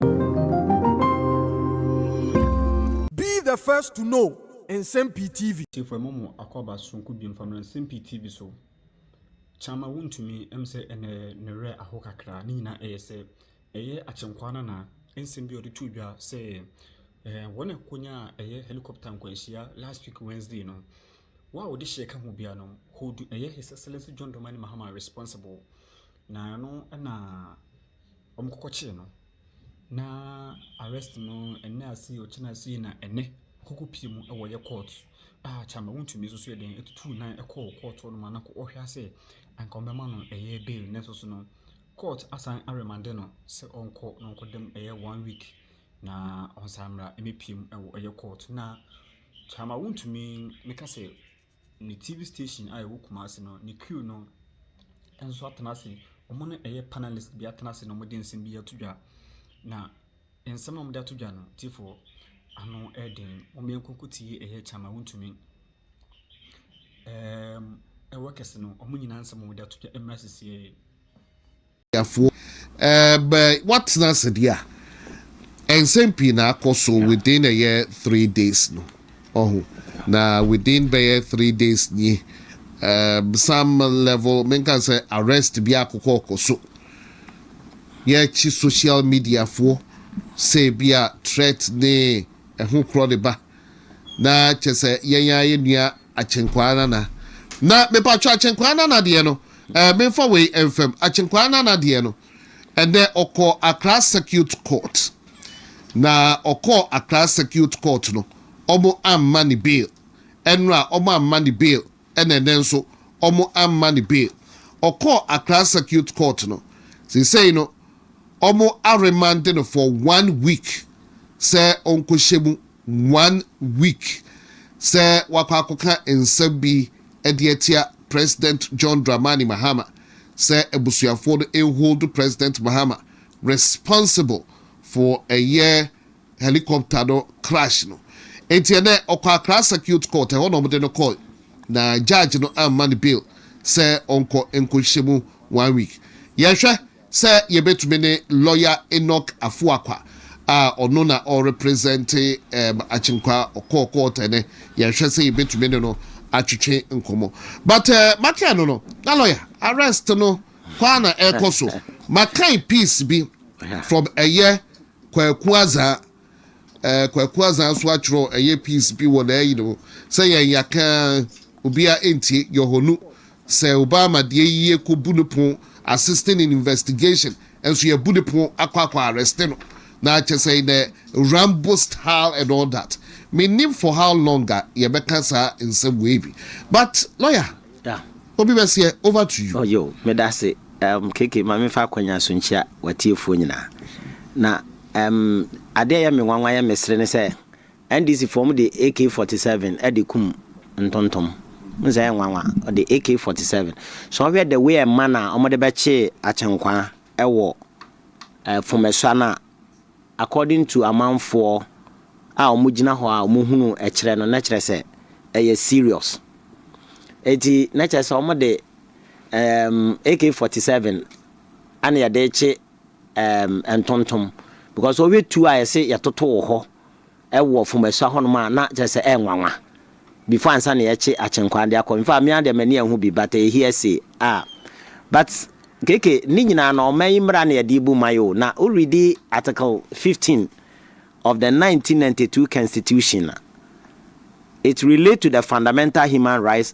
Be the first to know Nsɛm Pii TV. Tiefo ɛmɔ mo akɔaba soronko bio mfa mmra nsɛm pii TV so Kyama wontumi ɛm sɛ ɛnɛ ne werɛ ahow kakra ne nyinaa ɛyɛ sɛ ɛyɛ akyenkwaa no anaa Nsɛm bi a ɔde too dwa sɛ ɛɛ wɔn a ɛkonyaa ɛyɛ helicopter nkwanhyia last week Wednesday no Wo a wode hyɛ ka ho biara no hold ɛyɛ His Excellency John Dramani Mahama responsible na ɛno na wɔkɔkɔkyee no, na arrest no ɛnnɛ ase o, ɔkyena ase na ɛnnɛ ɔkɔkɔ pie mu wɔ yɛ court a kyɛ anka wɔntumi nso yɛ dɛn tutuu nan kɔɔ court hɔ nom a na wɔhwɛ ara sɛ anka wɔbɛma no ɛyɛ bail nanso so no court asan aremande no sɛ ɔnkɔ na ɔnkɔda mu ɛyɛ one week na ɔnsan mmra mmɛpiem wɔ ɛyɛ court na kyɛ ama wɔntumi mɛka sɛ. Ne TV station a ɛwɔ Kumasi no, ne crew no nso atena ase. Wɔn ne ɛyɛ panelist bi atena ase na wɔde nsɛm bi ato dwa. Na nsɛm a wɔde ato dwa no, tiefoɔ ano yɛ den. Wɔankɔ akɔtie ɛyɛ Kyama Wontumi. Ɛɛm, ɛwɔ kɛse no, wɔn nyinaa nsɛm a wɔde ato dwa mmra sisieɛ yi. Ghanafoɔ bɛ watena ase deɛ a nsɛm pii na akɔ so within ɛyɛ three days no ɔho na within bɛyɛ three days nie um, some level menka sɛ arrest bi akokɔ ɔkɔ so yɛkyi social mediafoɔ sɛ bi a threat ne ɛho korɔ de ba Na kyɛsɛ yɛn ara yɛn nua Akyenkwaa Nana. Na mepaatwɔ Akyenkwaa Nana deɛ no eh, menfa wei ɛnfam. Akyenkwaa Nana deɛ no, ɛnɛ ɔkɔɔ Accra Circuit Court. Na ɔkɔɔ Accra Circuit Court no, ɔmo amma ne bail. Ɛnora ɔmo amma ne bail. Ɛna ɛnnɛ nso wɔamma no bail. Ɔkɔɔ Accra Circuit Court no, seesei no wɔaremande no for one week sɛ ɔnkɔhyɛ mu, one week, sɛ wakɔ akɔka nsɛm bi de atia President John Dramani Mahama sɛ abusuafoɔ no nhold President Mahama responsible for ɛyɛ helicopter no crash no. Enti ɛnnɛ ɔkɔ Accra Circuit Court, ɛhɔ na wɔde no kɔe, na judge no amma no bail sɛ ɔnkɔ nkɔhyɛ mu one week. Yɛhwɛ sɛ yɛbɛtumi ne lawyer Enoch Afuakwa a ɔno na ɔrepresente um Akyenkwa ɔkɔɔ court ɛnnɛ, yɛhwɛ sɛ yɛbɛtumi ne no atwetwe nkɔmmɔ. But uh, maka no no, na lawyer arrest no kɔ a na ɛrekɔ so. Makae piece bi from ɛyɛ Kwaku Azaa, eh, Kwaku Azaa nso atwerɛ ɛyɛ piece bi wɔ n'ayi no mu sɛ yɛn yɛaka ara obiara ɛntie, Yɔhɔnu sɛ ɔbaa ma deɛ yi yɛkɔbu no pon, assisting in investigation, nso yɛabu no pon akɔ akɔ arreste no, na kyɛ sɛ in a Rambo style and all that. Mennim for how long a yɛbɛka saa nsɛm wei bi but lawyer. Da. Obi bɛseɛ, over to you. Yo, medase um KK ma me fa akwanya so nkyia watiefoɔ nyinaa. Na um adeɛ ɛyɛ me nwanwa yɛ me sere ne sɛ NDC foɔ wɔde AK 47 ɛde kum ntontom. Wohu sɛ ɛyɛ nwanwa, wɔde AK 47. Sɛ wohwɛ the way ɛma no a wɔde bɛkyee Akyenkwaa ɛwɔ eh Fomesua no a, According to amanfoɔ a wɔn gyina hɔ a wɔn hunu ɛkyerɛ no na kyerɛ sɛ ɛyɛ serious eti na kyerɛ sɛ wɔn de um, AK-47 ɛna yɛde kye um, ntontom because wɔhwɛ tuo a yɛse yɛtoto wɔ hɔ Ɛwɔ Fomasua hɔnom a na kyerɛ sɛ ɛyɛ nwanwa before ansa na yɛkye Akyenkwaa de akɔ. Infact me ara deɛ m'ani anhu bi but ɛyɛ hearsay a but kk ne nyinaa no ɔman yi mmara na yɛde rebu man yi o na wo readi article fifteen of the nineteen ninety two constitution a it relate to the fundamental human rights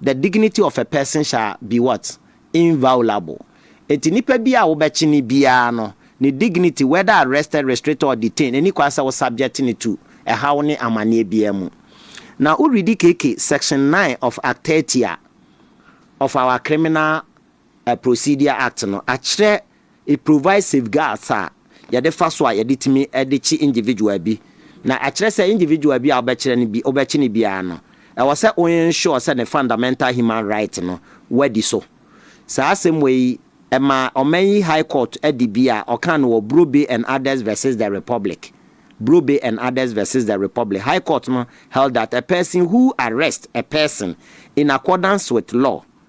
The dignity of a person shall be what? Inviolable. Enti nipa biara a wobɛkye no biara no, ne dignity, whether arrested, restricted or detained, ɛnni kwan sɛ wo subject no to ɛhaw ne amaneɛ biara mu. Na wo readi KK section nine of Act thirty a, of our Criminal Procedure Act no, akyerɛ it provides safeguards a yɛde fa so a yɛde tumi de kye individual bi. Na ɛkyerɛ sɛ individual bi a wobɛkyerɛ no bi, wobɛkye no biara no, ɛwɔ sɛ wo ensure sɛ ne fundamental human right no, woadi so. Saa asɛm wei, ɛmaa ɔman yi High Court de bi a ɔkaa no wɔ Brobe and Others versus the Republic, Brobe and Others versus the Republic, High Court no held that a person who arrests a person in accordance with law,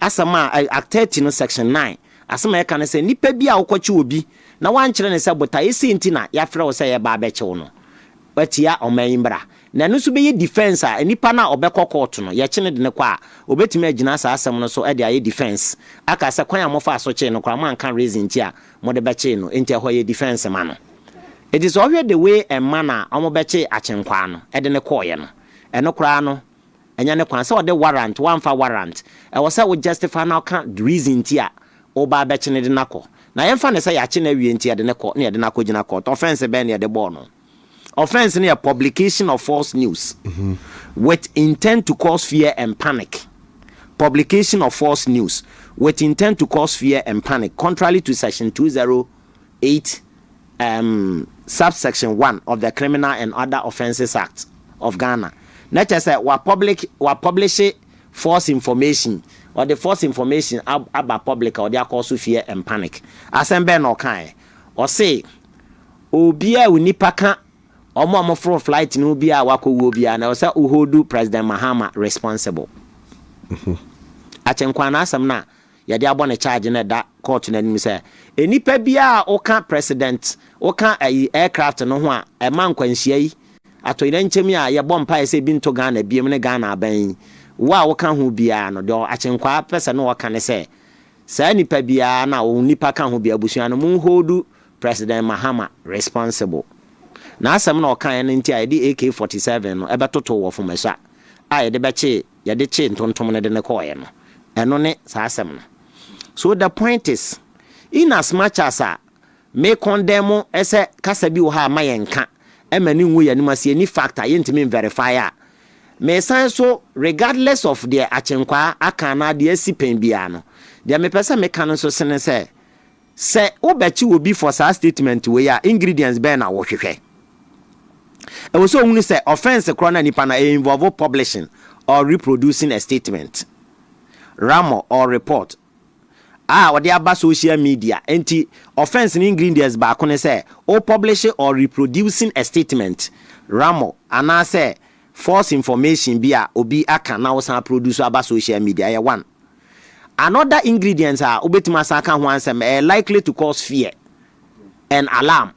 Asɛm a ɛy Act thirty no section nine, asɛm a ɛka ne sɛ nipa bi a wokɔkye obi na woankyerɛ no sɛ botaeɛ sei nti na yɛafrɛ wo sɛ yɛreba abɛkye wo no, woatia ɔman yi mmara. Na ɛno nso bɛyɛ defence a nipa no a ɔbɛkɔ court no, yɛkye no de no kɔ a, ɔbɛtumi agyina saa asɛm no so de ayɛ defence. Aka sɛ kwan a mofaa so kyee no koraa moanka reason nti a mode bɛkyee no, enti ɛhɔ yɛ defence ma no. Enti sɛ wohwɛ the way a mma no a wɔbɛkye akyenkwaa no de no kɔeɛ no, ɛno koraa no, Ɛnyɛ ne kwan sɛ ɔde warrant, wamfa warrant. Ɛwɔ sɛ wo justify na woka the reason nti a woba abɛkye no de no akɔ. Na yɛmfa no sɛ yɛakye no awie nti yɛde no kɔ na yɛde no akɔgyina court. Offence bɛn na yɛde bɔɔ no? Offence no yɛ publication of false news with intent to cause fear and panic. Publication of false news with intent to cause fear and panic contrary to section 208. um, Subsection One of the Criminal and Other Offences Act of Ghana, na kyerɛ sɛ wa public wa publishe false information, ɔde false information aba public a ɔde akɔ so fear and panic. Asɛm bɛn na ɔkaeɛ? Ɔse obi a onipa ka wɔn a wɔforo flight no bi a wakɔ wuo biara na ɛwɔ sɛ woholdu President Mahama responsible. Akyɛ Nkwaanaa asɛm no a yɛde abɔ no charge no ɛda court no anim sɛ nnipa biara a woka president woka ayi aircraft no ho a ɛma nkwanhyia yi atoyerɛnkyɛm yi a yɛbɔ mpaeɛ sɛ ebi nto Ghana biom ne Ghana aban yi wo a woka ho biara no deɛ akyenkwaa pɛ sɛ ne ɔka ne sɛ saa nnipa biara na wɔn nnipa ka ho bi abusua no mo hold president Mahama responsible n'asɛm na ɔkaeɛ no nti a yɛde AK 47 no ɛbɛtoto wɔ Fomasua a yɛde bɛkyee yɛde kyee ntontom no de no kɔɔeɛ no, ɛno ne saa asɛm no. So the point is, in as much as a me condemn sɛ kasa bi wɔ hɔ a ɛma yɛn nka, ɛma no ngu yɛn anim ase, ɛnni fact a yɛntumi nverify a, mesan so regardless of deɛ Akyenkwaa aka anaa deɛ asi pɛn biara no, deɛ mepɛ sɛ meka no nso sene sɛ, Sɛ wobɛkye obi for saa statement wei a, ingredients bɛn na wohwehwɛ? Ɛwɔ sɛ ohunu sɛ offence korɔ no a nipa no ayɛ involve publishing or reproducing a statement, ramor or report a ɔde aba social media. Enti offence no ingredients baako ne sɛ wo publish or reproducing a statement, ramor anaasɛ false information bi a obi aka na wosan aproduce aba social media. Ɛyɛ one. Another ingredients a wobɛtumi asan aka ho ansɛm, ɛyɛ likely to cause fear and alarm.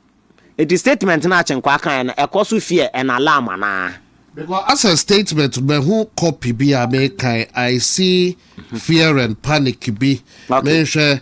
Nti statement no a Kyenkwaa kaeɛ no, ɛkɔ so fear and alarm anaa? Because as a statement mahu copy bi a mekan, I see fear and panic bi, menhwɛ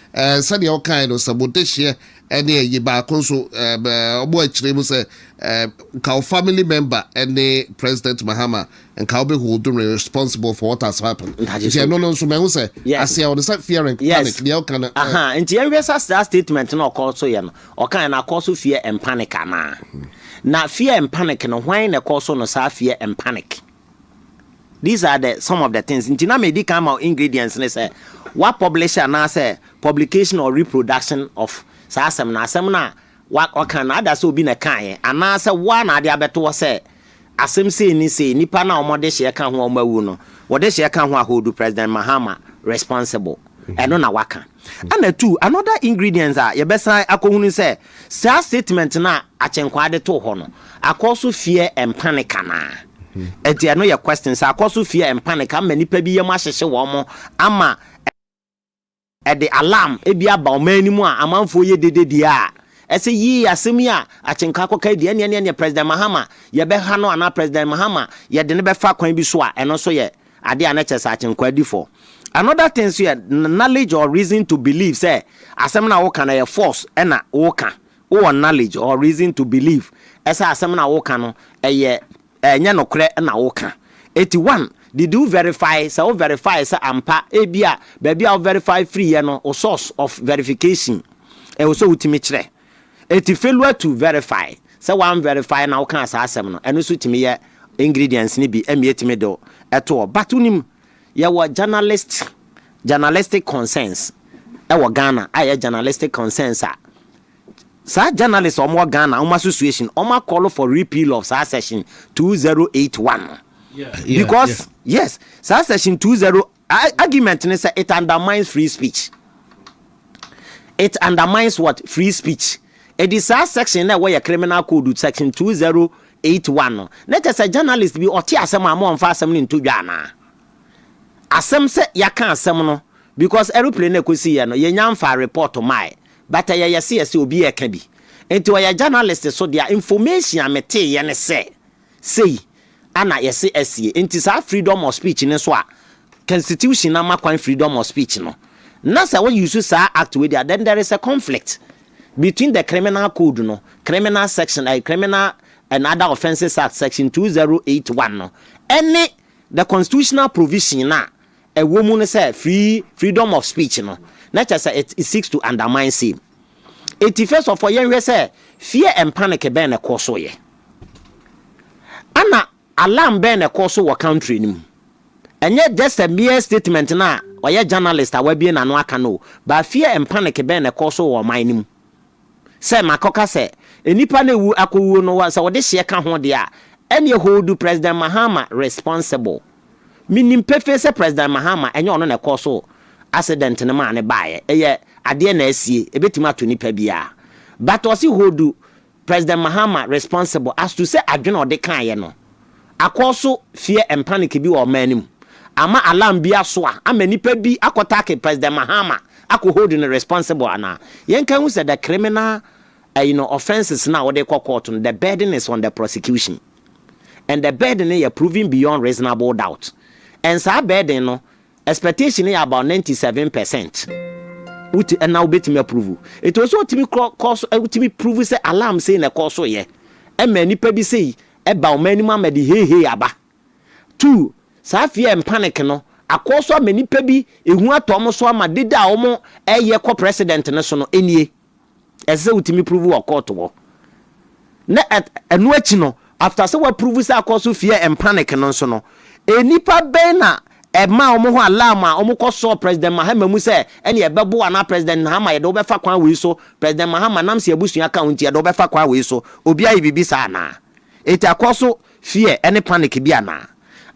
Ɛɛ, sɛdeɛ wokaeɛ no, sɛ mo dehyeɛ ne ayi baako nso, ɛɛ, wɔn akyire mu sɛ, ɛɛ, nka wo family member ne President Mahama, nka wobɛ holdu no responsible for what has happened. Nti ɛno no nso mahu sɛ aseɛ hɔ no, sɛ fear and panic, deɛ woka no, ɛɛ. Ahaa, nti yɛnhwɛ sɛ saa statement no a ɔkɔɔ so yɛ no, ɔkaeɛ no, akɔɔ so fear and panic anaa? Na fear and panic no, hwan na ɛkɔɔ so no saa fear and panic? These are the some of the things nti na medi kan ma wo ingredients ne sɛ wa publish anaasɛ publication or reproduction of saa asɛm no asɛm no a wa ɔka no ada sɛ obi na ɛkaeɛ anaasɛ wo a na ade abɛto hɔ sɛ asɛm sei ne sei nipa no a wɔn de hyeɛ ka ho a wɔn awu no wɔde hyeɛ ka ho a hold president mahama responsible ɛno na waka. Ɛna two, another ingredients a yɛbɛsan akɔhunu sɛ saa statement no a Akyenkwaa de too hɔ no, akɔ so fear mpa ne ka no a, ɛnti ɛno yɛ question sɛ akɔ so fear mpa ne ka ama nnipa bi yam ahyehye wɔn ama ɛde alarm bi aba ɔman no mu a amanfoɔ yɛ dede deɛ a, ɛsɛ yii asɛm yi a Akyenkwaa kɔkae deɛ ɛneɛ neɛ neɛ President Mahama yɛbɛha no anaa President Mahama yɛde no bɛfa kwan bi so a ɛno nso yɛ ade a na kyerɛ sɛ Agyenkwa di fɔ. Another thing nso yɛ knowledge or reason to believe sɛ asɛm no a woka no ɛyɛ force na woka. Wowɔ knowledge or reason to believe ɛsɛ asɛm no a woka no ɛyɛ ɛnyɛ nokorɛ na woka. Eti one, did you verify sɛ wo verify sɛ ampa ebia baabi a wo verify firi yɛ no wo source of verification ɛwɔ sɛ wotumi kyerɛ. Enti failure to verify, sɛ wan verify na wokaa saa asɛm no, ɛno nso tumi yɛ ingredients no bi ɛmia tumi de wo to hɔ. But wonim yɛwɔ journalist journalistic concerns ɛwɔ Ghana a ɛyɛ journalistic concerns a saa journalist a wɔn wɔ Ghana wɔn association wɔn a call for repeal of saa section 2081 no. Because yes, saa section 2081 Argument ne sɛ it undermines free speech. It undermines what? Free speech. Ɛdi saa section na ɛwɔ yɛ criminal code section 2081 no. Na kyɛ sɛ journalist bi ɔte asɛm a ama ɔmfa asɛm no nto dwa anaa? Asɛm sɛ yɛaka asɛm no because aeroplane no ɛkɔsi yɛ no yɛnya mfaa report mae but ɛyɛ yɛse yɛse obi ɛka bi. Nti ɔyɛ journalist so deɛ information a metee yɛ ne sɛ. Sei a na yɛse ɛsie. Enti saa freedom of speech no nso a constitution no ama kwan freedom of speech no, na sɛ wo use saa act wei deɛ a, then there is a conflict between the criminal code no, criminal section, eh, criminal and other offences act section 2081 no, ɛne the constitutional provision no a ɛwɔ mu no sɛ free freedom of speech no na kyɛ sɛ it seeks to undermine same eti first of all yɛnhwɛ sɛ fear and panic bɛn na ɛkɔɔ so yɛ ana alarm bɛn na ɛkɔɔ so wɔ country no mu ɛnyɛ just a mere statement na ɔyɛ journalist a wabie n'ano aka no ba fear and panic bɛn na ɛkɔɔ so wɔ ɔman no mu Sɛ makɔka sɛ nnipa no awu akɔwuo no sɛ wɔde hyeɛ ka ho deɛ a, ɛnneɛ hold President Mahama responsible. Menim pefee sɛ President Mahama ɛnyɛ ɔno na ɛkɔɔ so accident no maa no baeɛ, ɛyɛ adeɛ na asie, ɛbɛtumi ato nipa biara. But ɔse hold President Mahama responsible as to sɛ adwene a ɔde kaeɛ no, akɔ so fear mpa ne ke bi wɔ ɔman no mu ama alarm bi aso a ama nipa bi akɔ take President Mahama akɔ hold no responsible anaa? Yɛnka nhu sɛ the criminal eh, you know, offences no a wode kɔ court no the burden is on the prosecution and the burden no yɛ proven beyond reasonable doubt and saa burden no expectation no yɛ about 97 percent wote ɛna wobɛtumi approve ɛti wɔ sɛ wotumi kɔ kɔ so wotumi prove sɛ alarm sei na ɛkɔ so yɛ ɛma nipa bi sei Ɛba ɔman no mu ama ɛde heihei aba. Two, saa fear and panic no akɔ so ama nnipa bi ehu atɔ wɔn so ama deda a wɔyɛ kɔ president no so no nie. Ɛsɛ sɛ wotumi prove wɔ court hɔ. Na ɛno akyi no, after sɛ wɔaprove sɛ akɔ so fear and panic no nso no, nnipa bɛn na Ɛmaa wɔn hɔ alarm a wɔn kɔ sɔɔ President Mahama mu sɛ ɛne ɛbɛboa anaa President Nhama yɛde wo bɛfa kwan wei so, President Mahama nam sɛ abusua ka wo nti yɛde wo bɛfa kwan wei so, obi ayɛ biribi saa anaa? Enti akɔ so fear ɛne panic bi anaa?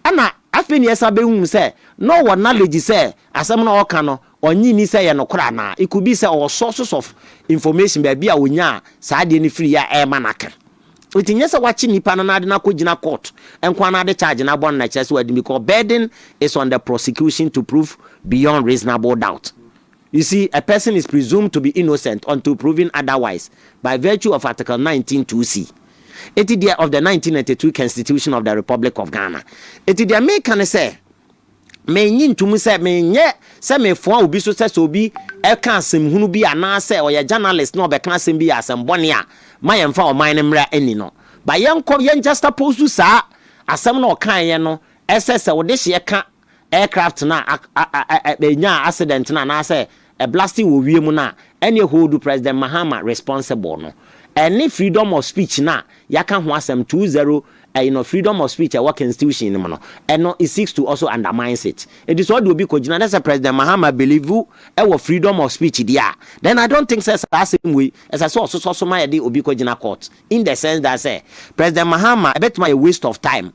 Ɛna afei na yɛsan bɛhuu sɛ na ɔwɔ knowledge sɛ asɛm no a ɔreka no Ɔnnye nni sɛ ɛyɛ nokorɛ anaa? It could be sɛ ɔwɔ sources of information baabi a ɔnyaa saa adeɛ no firii a ɛrema no aka. Nti nyɛ sɛ wakye nipa no na ade no akɔgyina court nko ara na ade charge no abɔ no na ɛkyerɛ sɛ wadi because burden is on the prosecution to prove beyond reasonable doubt. You see, a person is presumed to be innocent until proven otherwise by virtue of Article 19 2C. Eti deɛ of the 1992 Constitution of the Republic of Ghana. Eti deɛ meka ne sɛ, Mennye ntom sɛ menyɛ sɛ mefoa obi so sɛ sɛ obi ka asɛm hunu bi anaasɛ ɔyɛ journalist na ɔbɛka asɛm bi yɛ asɛm bɔne a ma yɛmfa ɔman no mmra nni no. But yɛnkɔ yɛn juxtapose saa asɛm no a ɔkaeɛ no sɛ sɛ wode hyeɛ ka aircraft no a ɛnyaa accident no anaasɛ a blasting wɔ wiem no a, ɛneɛ hold President Mahama responsible no. Ɛne freedom of speech no a yɛaka ho asɛm two zero ɛyi no, freedom of speech a ɛwɔ constitution no mu no, ɛno it seeks to also undermines it. Enti sɛ ɔde obi kɔgyina na sɛ President Mahama believe wɔ freedom of speech deɛ a, then I don't think sɛ saa asɛm wei ɛsɛ sɛ ɔsosɔ so ma yɛde obi kɔgyina court in the sense that sɛ President Mahama ɛbɛtumi ayɛ waste of time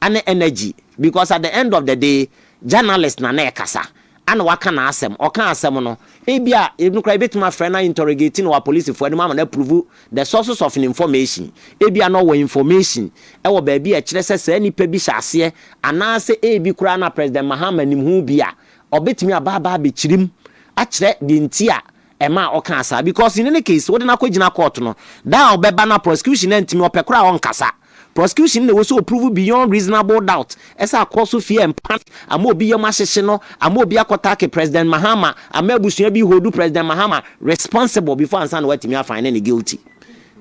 ne energy because at the end of the day journalist na na ɛkasa Ana waka n'asɛm? Ɔkaa asɛm no. Ebia, eno koraa yɛbɛtumi afrɛ no interrogate no wɔ apolisifoɔ anim ama no approve the sources of ne information. Ebia na ɔwɔ information wɔ baabi a ɛkyerɛ sɛ saa nipa bi hyɛ aseɛ anaasɛ ebi koraa na President Mahama nim ho bi a, ɔbɛtumi aba aba abɛkyiri mu akyerɛ deɛ nti a Ɛma ɔkaa saa because in any case wode no akɔgyina court no da a ɔbɛba no a prosecution no antumi ɔpɛ koraa a ɔnkasa. Prosecution na ɛwɔ sɛ ɔprove beyond reasonable doubt ɛsɛ akɔ so fear and panic ama obi yam ahyehye no ama obi akɔtake President Mahama ama abusua bi holdu President Mahama responsible before ansa na watumi afine no guilty.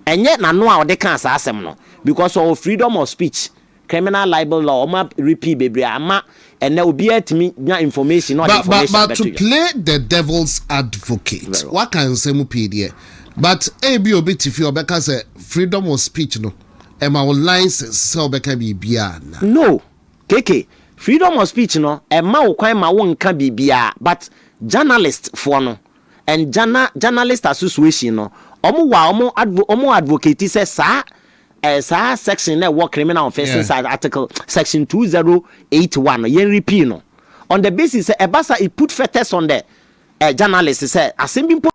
Ɛnyɛ n'ano a ɔde kaa saa asɛm no because ɔwɔ freedom of speech Criminal libel law ɔmo a repeal bebree ama ɛnɛ obiaa tumi nya information na ɔde information abɛto dwa. But to play the devil's advocate waka nsɛm pii deɛ but ebia obi te fie ɔbɛka sɛ freedom of speech no ɛma wo license sɛ wobɛka biribiaa ana? No KK freedom of speech no ɛma wo kwan ma wo nka biribiaa but journalist foɔ no and Ghana journalist association no ɔmo wɔ a ɔmo advocate sɛ saa Ɛɛ saa section na ɛwɔ Criminal Offences Act Article section two zero eight one no, yɛn repeal no on the basis sɛ ɛba saa it put fetters on the ɛɛ journalist sɛ asɛm bi mpo.